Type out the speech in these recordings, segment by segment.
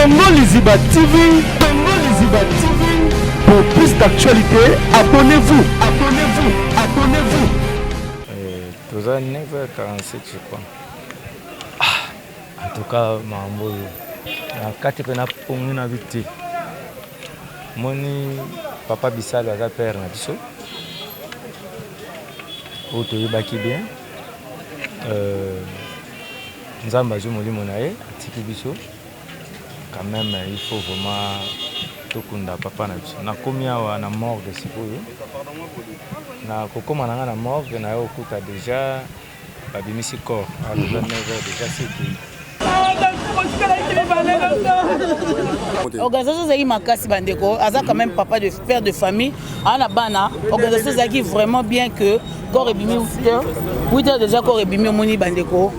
Congo Liziba TV, Congo Liziba TV. Pour plus d'actualité, abonnez-vous, abonnez-vous, abonnez-vous. Eh, toza 9h47 je crois. Ah, en tout cas mambo yo. Na kati pe na pongi na biti. Moni papa Bisalo aza père na biso. Oyo toyebaki bien. Euh, Nzambe azui molimo na ye atiki biso quand meme il faut vraiment tokunda papa na biso na komi awa na morgue sikoyo na kokoma na nga na morgue na yo okuta deja babimisi corps à 29 heures deja siki Organisation ezali makasi bandeko, aza quand même papa de père de famille aa na bana organisation ezalaki vraiment bien que corps ebimi 8 heures 8 heures déjà corps ebimi omoni bandeko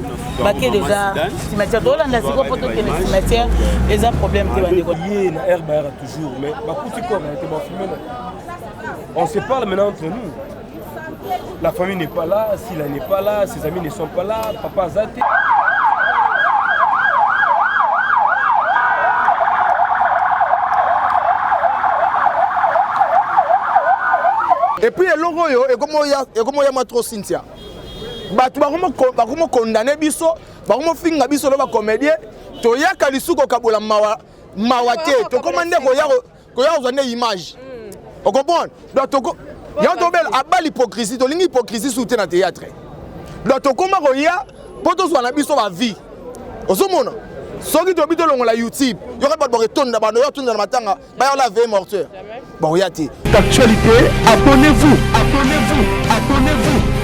bake deja cimetière tolanda sikoyo mpo tokende cimetière eza problème te bandeko ye na air bayaka toujours mais bakuti corps na ye te bafilme na on se parle maintenant entre nous La famille n'est pas là, Sila n'est pas là, ses amis ne sont pas là, papa Azate. Et puis eloko oyo ekomoyama trop cynthia bato bakomokondane biso bakomofinga biso lo bacomédien toyaka lisusu kokabola mawa mawa te tokoma nde koya koya kozwa nde image hmm. ocomprendre donc toko yango tobela abali hypocrisie tolingi hypocrisie su te na théâtre donc tokoma koya mpo tozwa na biso bavie ozomona soki tobi tolongola youtube yoka bato bakotonda bando yo atonda na matanga bayola vie morteur bakoya te actualité abonnez-vous abonnez-vous abonnez-vous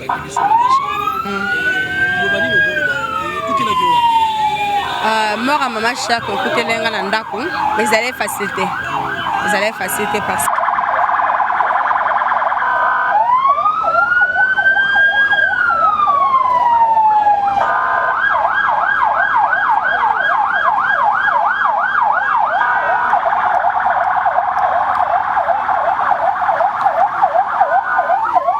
Euh, mort ya mama shak okuteli nga na ndako ezali facile te ezali facile te parce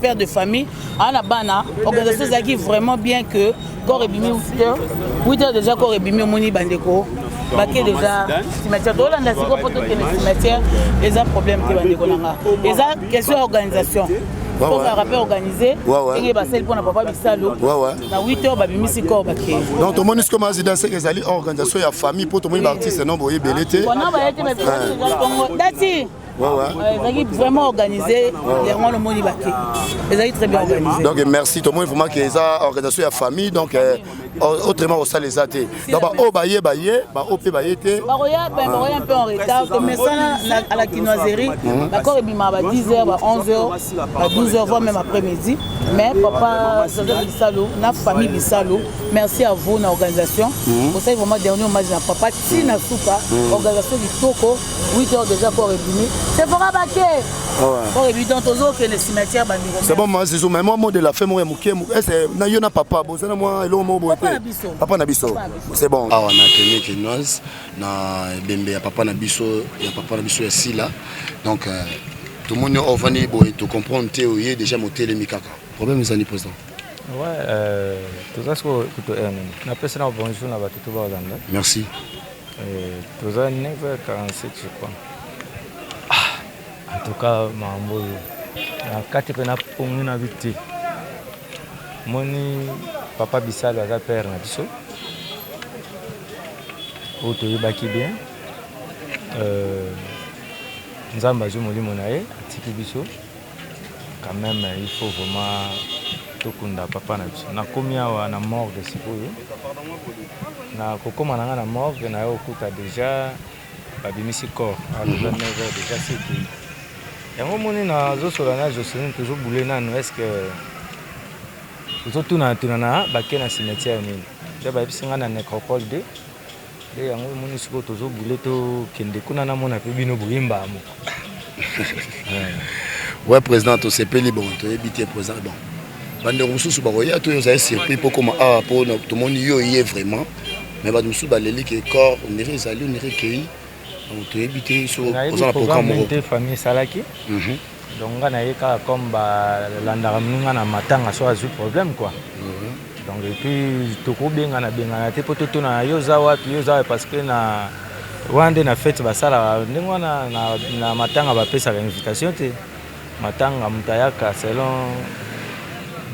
père de famille aa na bana organisation ezalaki vraiment bien que corps ebimi 8 heures déjà corps ebimi omoni bandeko bake deja cimetière tolanda sikoyo mpo tokende cimetière eza problème te bandeko na nga eza question ya organisation tozalaka mpe organise ndenge basali mpo na papa bisalu na 8 heures babimisi corps bakei donc tomoni siko mazidan seke ezali organisation ya famille mpo tomoni baartiste no boye ebele te wana baye te mais dati ezalaki vraiment organisé yango wana omoni bake ezalaki très bien organisé donc merci tomoni vraiment ke eza organisation ya famille donc euh, autrement osala eza te donc baoyo baye baye baoyo mpe baye te bakoya ben, ah. mpe en retard komesana à la kinoiserie mhm. bakor ebima ba 10 heures ba 11 heures ba 12 heures voire même après midi mais papa joseph bisalo na famille bisalo merci à vous na organisation mhm. osali vraiment dernier hommage na papa tina suka mhm. organisation kitoko 8 heures déjà corps ebimi sephora bake corps ebimi donc tozokende cimetière bandeko c'est bon ma zizou mais moi mot de la fin moko ya moke ese na yo na papa bozana mwa eloko moko boye te papa na biso c'est bon awa na kende kinoise na ebembe ya papa na biso ya papa na biso ya sila donc euh, tomoni ovani boye tocomprendre te oye déjà motelemi kaka problème ezali président Ouais, euh, tout ça, c'est que tu es. On a plus de bonjour, on a tout le monde. Merci. Eh, toza 9h47 je crois. Ah, en tout cas mambo yo. Na kati pe na pongi na biti. Moni papa Bisalo aza père na biso. Oyo toyebaki bien. Euh, Nzambe azwi molimo na ye atiki biso. Quand meme il faut vraiment tokunda papa na biso. Nakomi awa na morgue sikoyo. Na kokoma na nga na morgue na yo okuta deja babimisi corps à 29 mhm. heures deja siki. Yango moni na zosola na Jocelyn tozo boule nanu est-ce que tozo tuna tuna na bake na cimetière nini. Ndio bayebisi nga na necropole 2 Nde yango omoni sikoyo tozo bule to kende kuna na mona pe bino boye mbaa moko. Ouais président tosepeli bon toyebi te président bon bandeko mosusu bakoya to ozali surpris mpo koma awa ah, mpo tomoni yo ye vraiment mais bato mosusu baleli ke corps onire ezali onire ekei donc toyebi te so oza na programme moko te famille esalaki mhm. donc nga naye kaka comme ba landaka muninga na matanga soki azwi problème quoi donc et puis toko bengana bengana te po to tonana yo oza wapi yo oza wapi parce que na wana nde na fete basalaka ndenge wana na, na matanga bapesaka invitation te matanga moto ayaka selon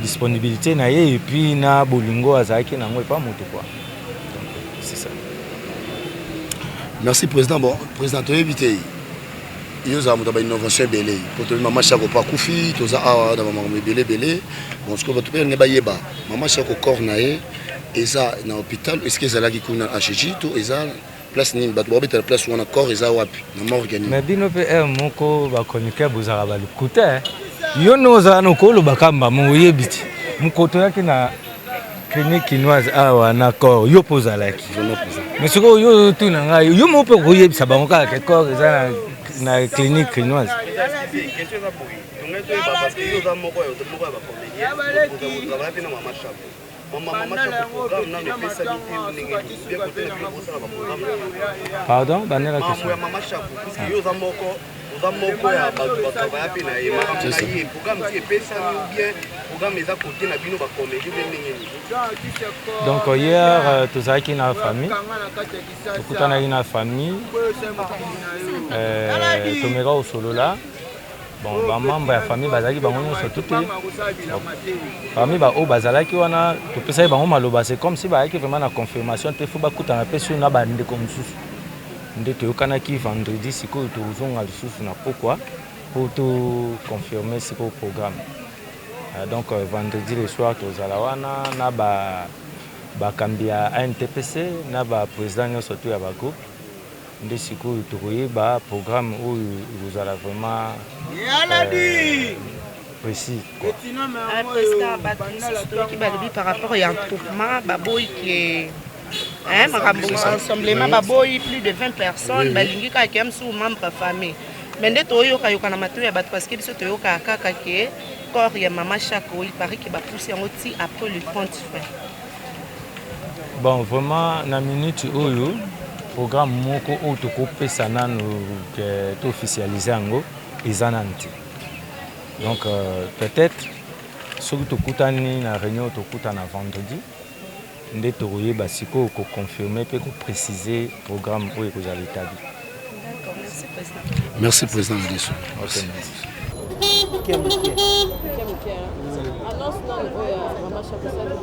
disponibilité na ye et puis na bolingo azalaki na yango epa moto quoi donc c'est ça merci président bon président toyebi te yo ozala moto ya bainnovation ebele mpo toyebi mama shako mpo akufi toza awa na bamakambo ebele ebele bon sikoyo bato mpe balingi bayeba mama shako corps na ye eza na hôpital eske ezalaki kuna hg to eza place nini bato bakobetela place wana corps eza wapi na morgue nini mais bino mpe heure moko bachroniqueur bozalaka balukuta yo nde ozala na okolobaka mbamo oyebi ti mokoto yaki na clinique kinoise awa na corps yo mpe ozalaki mais sikoyo yo ozotuna ngai yo moko mpe okoyebisa bango kaka ke corps eza na, na clinique kinoise pardon banela question oza moko ya bato batravaya mpe na ye makambo na ye programme ti epesami ou bien programme eza kote na bino bakomedi mpe ndenge nini donc hier euh, tozalaki na famille tokutanaki na famille euh, tomeka kosolola bon bamembre ya famille bazalaki bango nyonso tu te parmi baoyo bazalaki wana topesaki bango maloba c'est comme si bayaki vraiment na confirmation te fo bakutana mpe sur na bandeko mosusu nde toyokanaki vendredi sikoyo tozonga lisusu na pokwa po to confirme sikoyo programme ah, donc euh, vendredi le soir tozala wana na ba bakambi ya antpc na ba président nyonso to ya ba groupe nde sikoyo tokoyeba programme oyo ekozala vraiment euh, précis quoi. Euh, par rapport ya entourement baboyi ke Eh, makambo rassemblement baboyi plus de 20 personnes balingi kaka ya mosusu membre ya famille mais nde toyokayoka na matoi ya bato parceke biso toyokaka kaka ke corps ya mama chako il parait ke bapusi yango ti après le 30 fin bon vraiment na minute oyo programme moko oyo tokopesa nano ke to officialise yango eza nano te donc euh, peut-être soki tokutani na réunion tokutana vendredi nde tokoyeba sikoyo ko confirmer mpe ko preciser programme oyo ekozala etabli. Merci president na biso. Okay, merci. Muke muke. Muke muke. Hein. Annonce nani oyo ya Mama Shaka Sali?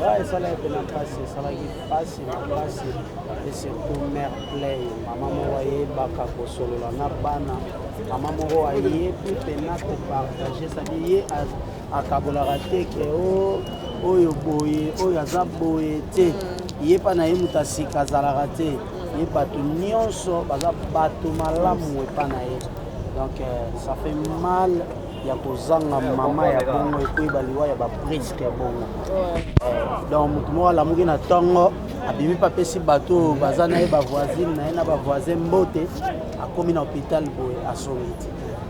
Ouais, esalaki mpe na mpasi esalaki mpasi na mpasi et surtout mère play mama moko ayebaka kosolola na bana mama moko ayebi mpe na kopartage sadi ye akabolaka te ke o oyo boye oyo aza boye te ye mpa na ye moto ya sika azalaka te ye bato nyonso baza bato malamu epa na ye donc euh, ça fait mal ya kozanga mama ya bongo ekoyeba liwa ya bapriske bongo euh, donc moto moko alamuki na ntongo abimi mpe apesi bato oyo baza na ye bavoisine na ye na bavoisin mbote akomi na hôpital boye asongi te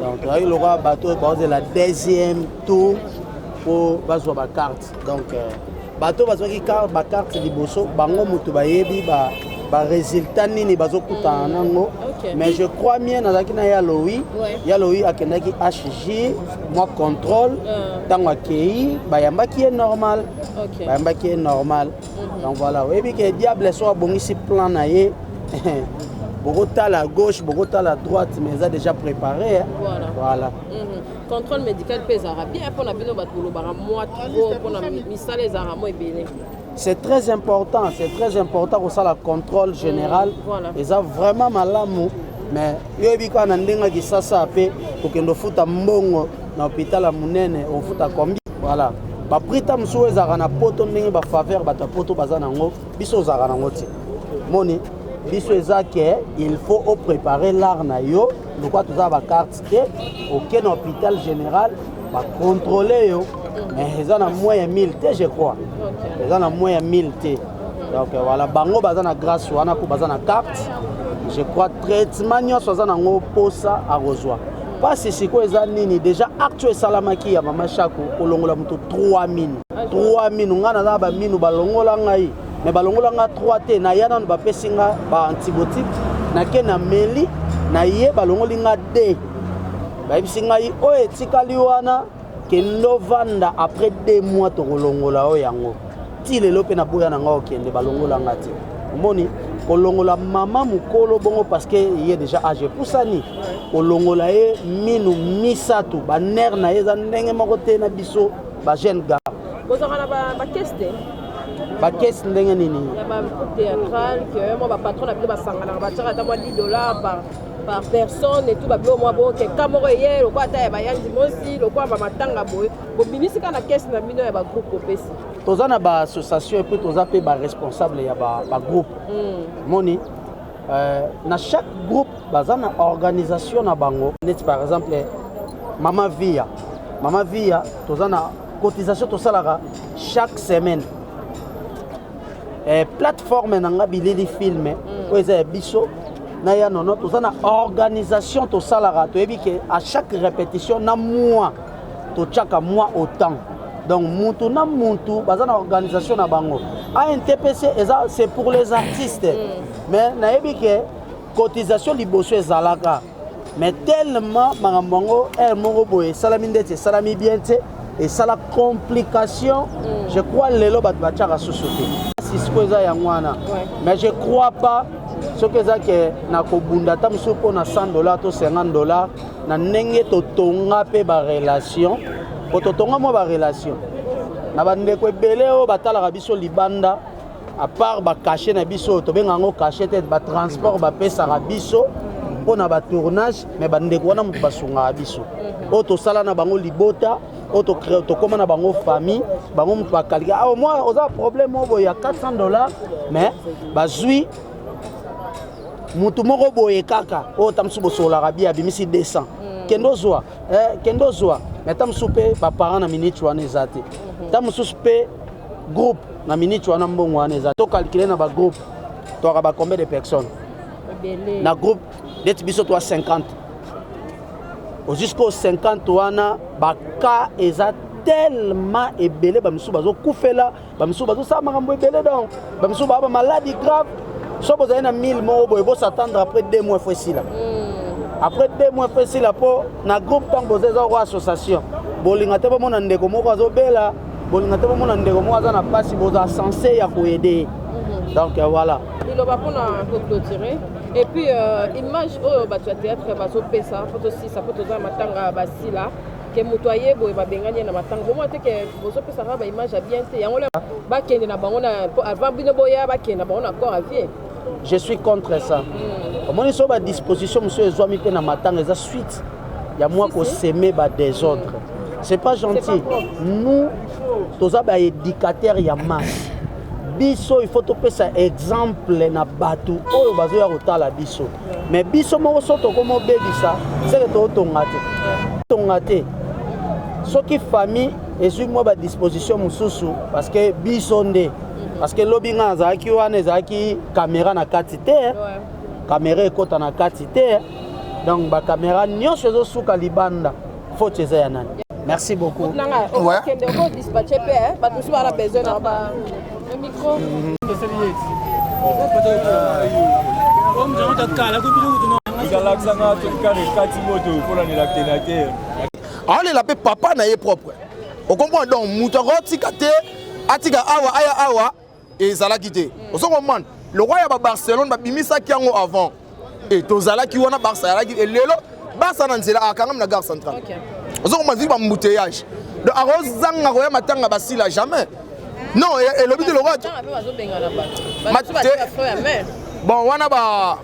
donc tozalaki lokola bato oyo baozela deuxième tour mpo bazwa bacarte donc euh, bato bazwaki bacarte liboso bango moto bayebi ba baresultat nini bazokutana nango mais je crois mien nazalaki na ya lowi ya lowi akendaki hg mwa contrôle ntango euh. akei bayambaki ye normal bayambaki ye normal donc voilà oyebi ke diable so abongisi plan na ye bokotala à gauche bokotala à droite mais eza déjà préparé hein? voilà, voilà. Mm -hmm. contrôle médical mpe ezalaka bien mpo na bino bato bolobaka mwa trop mpo na misala ezalaka mwa ebele c'est très important c'est très important kosala contrôle général mm, voilà. eza vraiment malamu mais yo yebi kaka na ndenge ya kisasa mpe kokende ofuta mbongo na hopital ya monene ofuta kombi voilà baprix ta mosusu oyo ezalaka na poto ndenge bafaveur bato ya poto baza nango biso ozalaka nango te moni biso eza ke il faut oprépare l'art na yo lokwa toza bacarte te oke na hôpital général bacontrôle yo mais eza na moins ya 1000 te je crois eza na moins ya 1000 te donc voilà bango baza na grâce wana mpo baza na carte je crois traitement nyonso aza nango mposa akozwa pasi sikoyo eza nini deja acte esalamaki ya mama shako kolongola moto 3 minu 3 minu ngai naza na baminu balongola ngai me balongola ngai 3 te naya nano bapesi ngai baantibiotique nake na meli naye balongoli ngai 2 bayebisi ngai oyo etikali wana kende ovanda après deux mois tokolongola yo yango ti lelo mpe naboya na ngai okende balongola ngai te omoni kolongola mama mokolo bongo parce que ye déjà age epusani kolongola ye minu misato banere na ye eza ndenge moko te na biso bajeune gar bozalaka na bakese te bakese ndenge nini par personne et tout ba bilo mwa bo keka moko eye lokola ata ya bayanzi mosi lokola ba matanga boye bobimisi kaka na kesi na bino ya ba groupe bopesi toza na ba association epuis toza mpe ba responsable ya ba, ba groupe mm. moni euh, na chaque groupe baza na organisation na bango neti par exemple mama via mama via toza na cotisation tosalaka chaque semaine eh, plateforme na nga bilili filme mm. oyo eza ya biso na ya nono toza na organisation tosalaka toyebi ke à chaque répétition na mois totyaka mois au temps donc mutu na mutu baza na organisation na bango antpc eza c'est pour les artistes mm. mais nayebi ke cotisation liboso ezalaka mais tellement makambo yango heure moko boye esalami ndeti esalami bien te esala complication mm. je crois lelo bato batyaka susu te sisiko eza yango wana mais je crois pas soki eza ke na kobunda ata mosusu mpo na 100 dollar to 50 dollar na ndenge totonga mpe barelation mpo totonga mwa barelation na bandeko ebele oyo batalaka biso libanda à part ba cachet na biso tobenga yango cachet te ba transport bapesaka biso mpo na ba tournage mais bandeko wana moto basungaka biso mhm. oyo tosala na bango libota oyo tokóma na bango famille bango moto bakalika ah, omwa oza problème oyo boye ya 400 dollars mais bazwi motu moko boye kaka oyo ta mosusu bosololaka bia abimisi 200 mm. kende ozwa eh, kende ozwa mais ta mosusu mpe baparent na minute wana eza te mhm. ta mosusu mpe groupe na minute wana mbongo wana eza to calculer na ba groupe toaka ba combien de personnes na groupe neti biso toa 50 jusqu'au 50 wana ba cas eza tellement ebele bamisusu bazokufela bamisusu bazosala makambo ebele donc bamisusu baa bamaladi grave so bozali na 1000 moko boye bosatendre après 2 mois fo esila hmm. après 2 mois fo esila mpo na groupe ntango boza eza ko association bolinga te bomona ndeko moko azobela bolinga te bomona ndeko moko aza na mpasi boza sense ya koede ye mhm. donc euh, voilà liloba mpona koclotire et puis euh, image oyo bato ya théâtre bazopesa mpo tosisa mpo toza na matanga ya basila ke moto aye boye babengani ye na matanga bomona te ke bozopesaka baimage ya bien te yango bakende na bango na avant bino boya bakende na bango na corps avie je suis contre ça mm. omoni so badisposition mosusu ezwami mpe na matanga eza suite ya mwa koseme badésordre mm. c'est pas gentil nous toza baéducateur ya masse biso il faut topesa exemple na bato oyo bazoya kotala biso mais biso moko so tokoma obebisa seke tootonga te tonga te soki famille ezwi mwa badisposition mosusu parce que biso nde parce que lobi nga nazalaki wana ezalaki kamera na kati te kamera ekota na kati te donc bakamera nyonso ezosuka libanda foti eza ya nani merci beaucoup aolela mpe papa na ye propre okomprendre donc moto akotika te atika awa aya awa ezalaki te mm. ozo comprendre lokola ya ba barcelone babimisaki yango avant e tozalaki wana barça yalaki e lelo barça na nzela akangami na gare centrale ozo comprendre ziki bambouteillage donc akozanga koya matanga basila jamais non elobi te lokola bon wana ba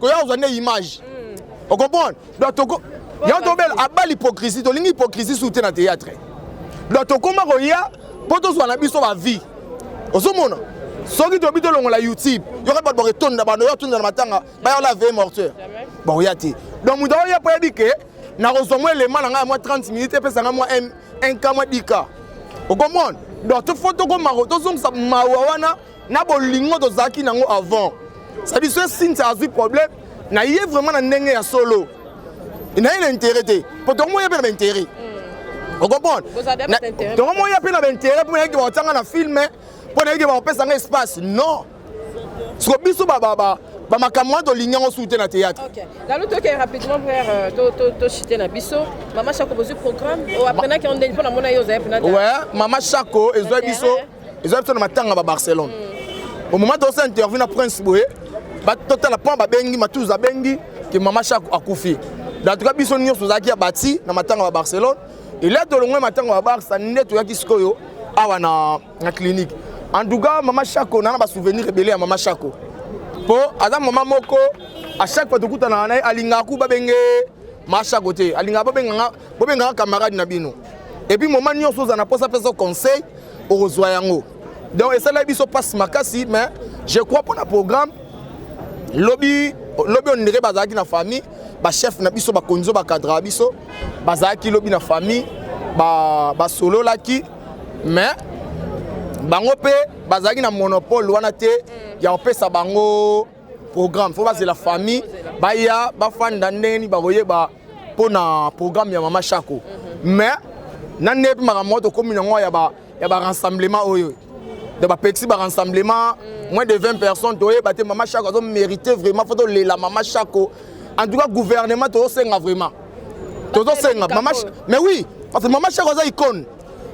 koya kozwa nde image hmm. ocomprendre donc toko yango tobela abali hypocrisie tolingi hypocrisie su te na théâtre donc tokoma koya mpo tozwa na biso bavie ozomona soki tobi tolongola youtube yoka bato bakotonda bando yo atonda na matanga bayola aveye morteur bakoya te donc moto aoya mpo yebi ke nakozwa mwa elema na ngai ya mwa 30 minute epesa ngai mwa 1 ka mwa 10 ka okomona donc tofo tokoma tozongisa mawa wana na bolingo tozalaki nango avant cetadi soki sintia azwi problème na ye vraiment na ndenge ya solo na ye na intérêt te mpo tongo moya mpe na baintérêt hmm. ocomprendre tongo moya mpe na baintérêt mpo nayeke bakotianga na filme mpo nayeke bakopesa nga espace non siko biso bamakambo wana tolingi yango suki te na théâtre lalo toke rapidement frère euh, tochite na biso mama shako bozwi programme oh, apprenaki yango ndenge mpo namona ye ozali mpena mama shako ezwai biso ezwa biso na matanga ba barcelone mm. au moment tosa interview na prince boye totala mpo babengi matuza abengi ke mama shak akufi en tout cas biso nyonso tozalaki ya bati na matanga ba barcelone elia tolongwe matanga ba barsa nde toyaki sikoyo awa na, na clinique en tout cas mama shako nana basouvenir ebele ya mama shako mpo aza mama moko à chaque fois tokutanaka na ye alingaka ku babenge mashako te alingaka babenganga bobengaka camarade na bino epuis moma nyonso oza na mposa pesa conseil okozwa yango donc esalaki biso mpasi makasi mais je crois mpona programme lobi lobi ondire bazalaki na famille bachef na biso bakonzi oyo bakadraka biso bazalaki lobi na famille basololaki ba mais bango mpe bazalaki na monopole wana te ya kopesa bango programme fo bazela famille baya bafanda ndenge nini bakoyeba mpo na programme ya mama shako mhm. mais na nde mpe makambo moko tokómi na yango ya barassemblement oyo de bapekisi barassemblement mm. moins de 20 personnes toyeba te mama shako azo mérité vraiment fo tolela mama shako en tout cas gouvernement tozosenga vraiment tozosenga mama mais oui parce que mama shako aza icône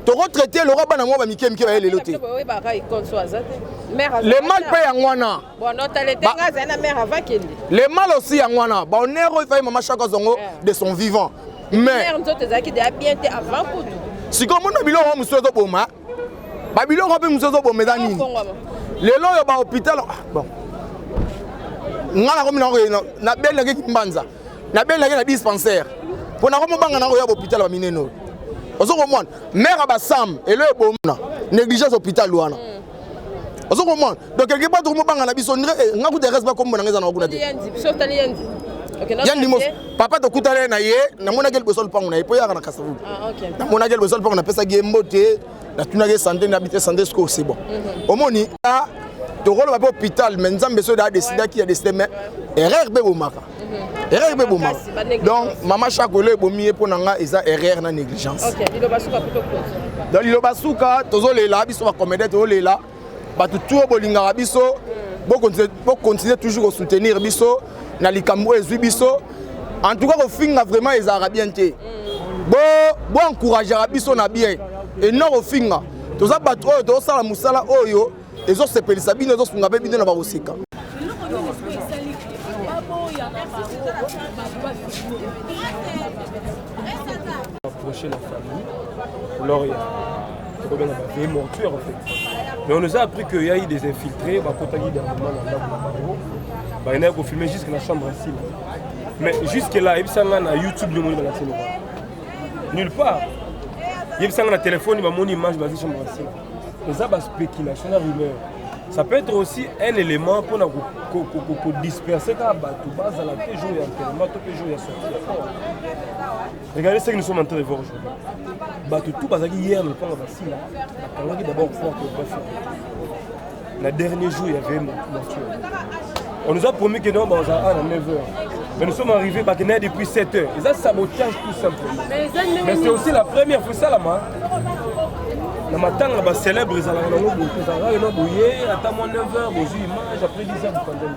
tokotraite lokola bana mwa bamike mike baye lelo te le mal mpe yango wana Bon, non, t'as les bah, tengas, la mère avant qu'il Les mal aussi, à moi, bah, on est refait, maman, chaque zongo, eh. de son vivant. Mais. Mère, nous autres, qui déjà bien, t'es avant coup. Si comme on a bilo, on mousse au boma. Bah, bilo, on peut mousse au boma, mais nini. Les lois, bah, hôpital, ah, bon. nga na komi na koye na beli nake kimbanza na beli nake na dispensaire mpo na komi obanga na koya bopital ba minene oyo ozo komona mare ya basam elo ebomona négligence hôpital wana mm. ozo comprendre donc quelque part toko mobanga na biso ndre eh, nga kuta reste ba kombo na ngeza na kuna te yandi mos papa tokutana na ye namonaki liboso lupango na ye mpo yaka na kasavu ah, namonaki liboso lupango napesaki ye mbote natunaki ye sante na bite sante sikoyo c'est bon mhm. omoni tokoloba mpe hôpital mais nzambe soki daa décidaki ya décide mais erreur mpe bomaka erreur mpe eboma donc mama shako elo ebomi ye mpo na nga eza erreur na négligence donc liloba suka tozolela biso bacomédien tozolela bato tuo bolingaka biso hmm. bokontinue toujours kosoutenir biso na likambo oyo ezwi biso en tout cas kofinga vraiment ezalaka bien te hmm. boencourageaka biso na bien et non kofinga toza bato oyo tozosala mosala oyo ezo sepelisa bino ezo sunga pe bino na bakoseka approcher la famille alors ya tokobenga ba vie mortuaire en fait mais on nous a appris que yayi des infiltrés bakotaki dernièrement na ndako na bango bakendaki kofilme jusque na chambre ya sima mais jusque là yebisa ngai na youtube nde omoni balakisi noko nulle part yebisa ngai na telefone bamoni image bazi chambre ya sima eza ba spéculation na rumeur ça peut être aussi un élément mpo na kodisperse kaka bato bazala te jour ya enterrement to mpe jour ya sorti ya fort regardez ce que nous sommes en train de voir aujourd'hui bato tout bazalaki hier na lopango basila bakangaki d'abord porte ya bafia Na dernier jour, il y avait mortuaire. On nous a promis que non, bah, on à 9h. Mais nous sommes arrivés bah, depuis 7h. Ils ont sabotage tout simplement. Mais c'est aussi la première fois ça là-bas. na matanga bacélèbre ezalaka nango boye ezalaka ena boye ata mwa 9 heure bozwi image après 10 heure bokandani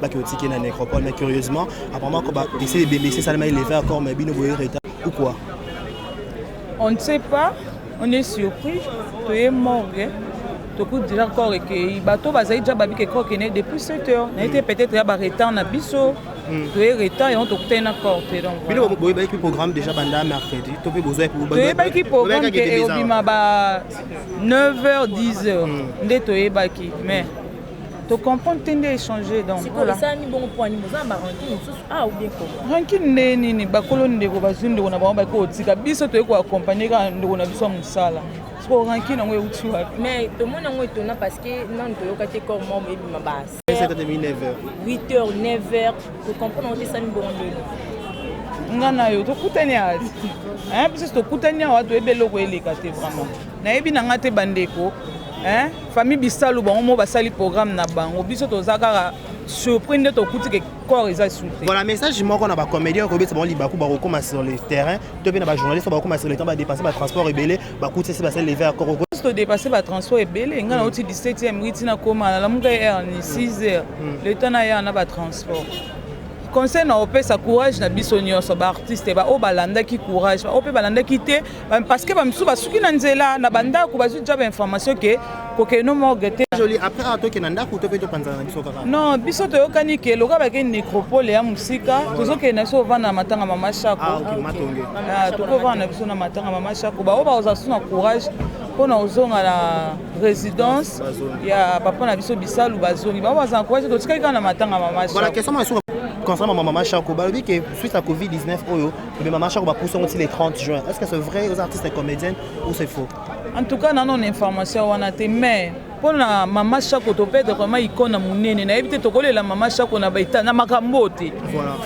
baki otiki na necropole mais curieusement apparemment ko ba essayer de baisser ça mais lever encore mais bino boye retard ou quoi on ne sait pas on est surpris to est morgue tokuti déjà corps ekei bato bazali déjà babiki corps ekende depuis 7 heures na ete peut-être ya baretard na biso hmm. toye retard yango tokutani na corps te donc bino boyebaki programme déjà banda mercredi to mpe bozoyebaki programme ke ekobima ba 9 heures 10 heures hmm. nde toyebaki mais To comprendre te nde échanger donc. Sikoyo esala nini bongo mpo nini boza na ba rancune mosusu ah ou bien comment? Rancune nde nini bakolo ndeko bazwi ndeko na bango bakoki kotika biso toyei ko accompagner kaka ndeko na biso ya mosala sikoyo rancune yango euti wapi? Mais tomoni yango etona parce que nanu toyoka te corps mort ebima ba 8 heures 9 heures to comprendre yango te esala nini bongo ndeni? Nga na yo tokutani awa biso tokutani awa toyebi eloko eleka te vraiment nayebi na nga te bandeko Hein? Famille Bisalu bango mo basali programme na bango. Biso toza kaka surpris nde tokuti ke corps eza sous te. Voilà message moko na ba comédiens ko besa bango libaku ba kokoma sur le terrain. To pe na ba journalistes ba kokoma sur le terrain ba dépasser ba transport ebele ba kuti se ba se lever à corps. To dépasser ba transport ebele nga na oti 17e riti na koma na lamuka heure ni 6h. Mm. Le temps na ya na ba transport. conseil na opesa courage na biso nyonso baartiste baoyo balandaki courage baoyo mpe balandaki te parce que bamisusu basuki na nzela na bandako bazwi ja bainformation ke kokende no morgue te non biso toyokani ke loka bakei necropole ya mosika tozokende na biso kovanda na matanga mama shako ah, ah, ah, tokovanda na biso na matanga mama shako baoyo bakozala biso na courage mpona kozonga na résidence ya papa na biso bisalu bazongi baoyo bazala courage totikaki kaka na matanga mama shako concernant mama mama shako balobi ke suite ya covid-19 oyo Mais maman Chako bapusa yango ti le 30 juin. Est-ce que c'est vrai aux artistes et comédiennes ou c'est faux? En tout cas, nano na information wana te mais mpo na mama shako topede vraiment ikona monene nayebi te tokolela mama shako na baita na makambo te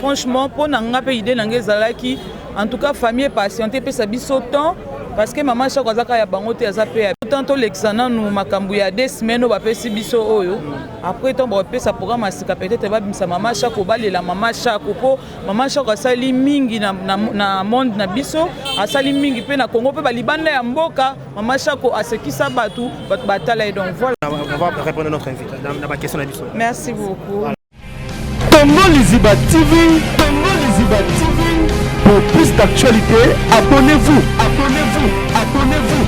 franchement mpo na nga mpe idée na nga ezalaki en tout cas famille patiente epesa biso temps parce que mama shako aza kaka ya bango te aza mpe ya temps tolekisa nanu makambo ya de semaine oyo bapesi biso oyo après ntango bapesa programme ya sika peut-être babimisa mama shako balela mama shako mpo Maman Shako asali mingi na, na, na monde na biso, asali mingi pe na Congo pe ba libanda ya mboka. Maman Shako asekisa batu, batu batala et donc voilà. On va répondre à notre invité na ba question na biso. Merci beaucoup. Congo Liziba TV, Congo Liziba TV. Pour plus d'actualités, abonnez-vous, abonnez-vous, abonnez-vous.